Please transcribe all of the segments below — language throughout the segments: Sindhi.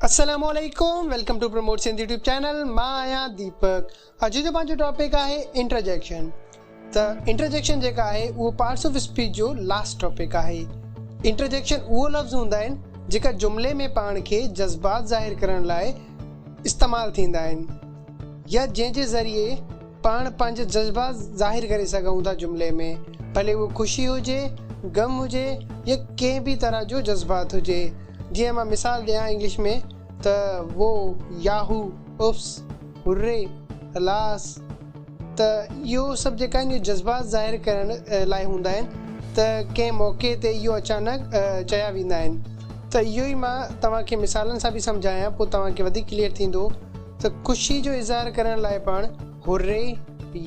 السلام عليڪم welcome to promote Sindh YouTube channel مان آهيان ديپڪ اڄ جو پنهنجو ٽاپڪ آهي انٽرجيڪشن ته انٽرجيڪشن جيڪا آهي اهو پارٽس آف اسپيچ جو لاسٽ ٽاپڪ آهي انٽرجيڪشن اهو لفظ هوندا آهن جيڪا جملي ۾ پاڻ کي جذبات ظاهر ڪرڻ لاء استعمال ٿيندا آهن يا جنهن جي ذريعي پاڻ پنهنجا جذبات ظاهر ڪري سگهون ٿا جملي ۾، ڀلي اهو خوشي هجي، غم هجي يا ڪنهن به طرح جو جذبات هجي. جيئن مان مثال ڏيان انگلش ۾ ته وو، ياهو، اوپس، هري، الاس ته اهو سڀ جيڪا آهن اهي جذبات ظاهر ڪرڻ لاء هوندا آهن ته ڪنهن موقعي تي اهو اچانڪ چيا ويندا آهن ته اهو ئي مان توهان کي مثالن سان به سمجهايان پوء توهان کي وڌيڪ ڪليئر ٿيندو ته خوشي جو اظهار ڪرڻ لاء پاڻ Hurray،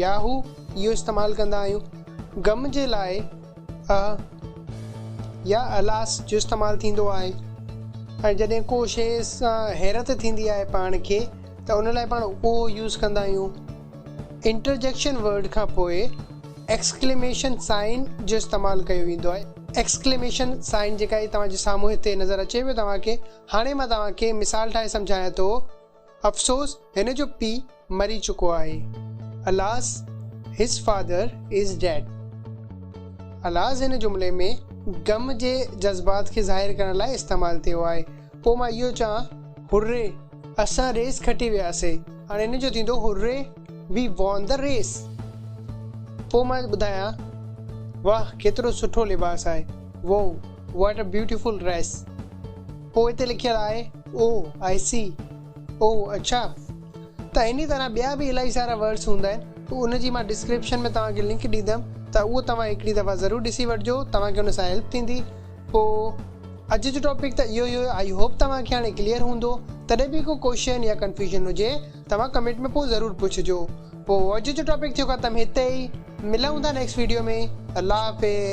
Yahoo اهو استعمال ڪندا آهيون. غم جي لاء اهه يا Alas جو استعمال ٿيندو آهي ۽ جڏهن ڪو شيء سان حيرت ٿيندي آهي پاڻ کي ته ان لاء پاڻ Ohh يوز ڪندا آهيون. انٽرجيڪشن ورڊ کان پوء Exclamation Sign جو استعمال ڪيو ويندو آهي. Exclamation Sign جيڪا هي توهان جي سامهون هتي نظر اچي پيو توهان کي هاڻي مان توهان کي مثال ٺاهي سمجهايان ٿو. افسوس هن جو پيء مري چڪو آهي. Alas his father is dead. Alas هن جملي ۾ غم جي جذبات کي ظاهر ڪرڻ لاء استعمال ٿيو آهي. پوء مان اهو چوان Hurray! اسان ريس کٽي وياسين. هاڻي هن جو ٿيندو Hurray! We won the race. پوء مان ٻڌايان واهه ڪيترو سٺو لباس آهي. Wow! What a beautiful dress پوء اتي لکيل آهي او آئي سي او اڇا ته انهي طرح ٻيا به الائي سارا ورڊس هوندا آهن ته ان جي مان ڊسڪرپشن ۾ توهان کي لنڪ ڏيندم ته اهو توهان هڪڙي دفعا ضرور ڏسي وٺجو توهان کي ان سان هيلپ ٿيندي پوء اڄ جو ٽاپڪ ته اهو ئي هيو آئي هوپ توهان کي هاڻي ڪليئر هوندو تڏهن به ڪو ڪوشچن يا ڪنفيوزن هجي توهان ڪمينٽ ۾ پوء ضرور پڇجو پوء اڄ جو ٽاپڪ ٿيو ختم هتي ئي ملون ٿا نيڪسٽ ويڊيو ۾ الله حافظ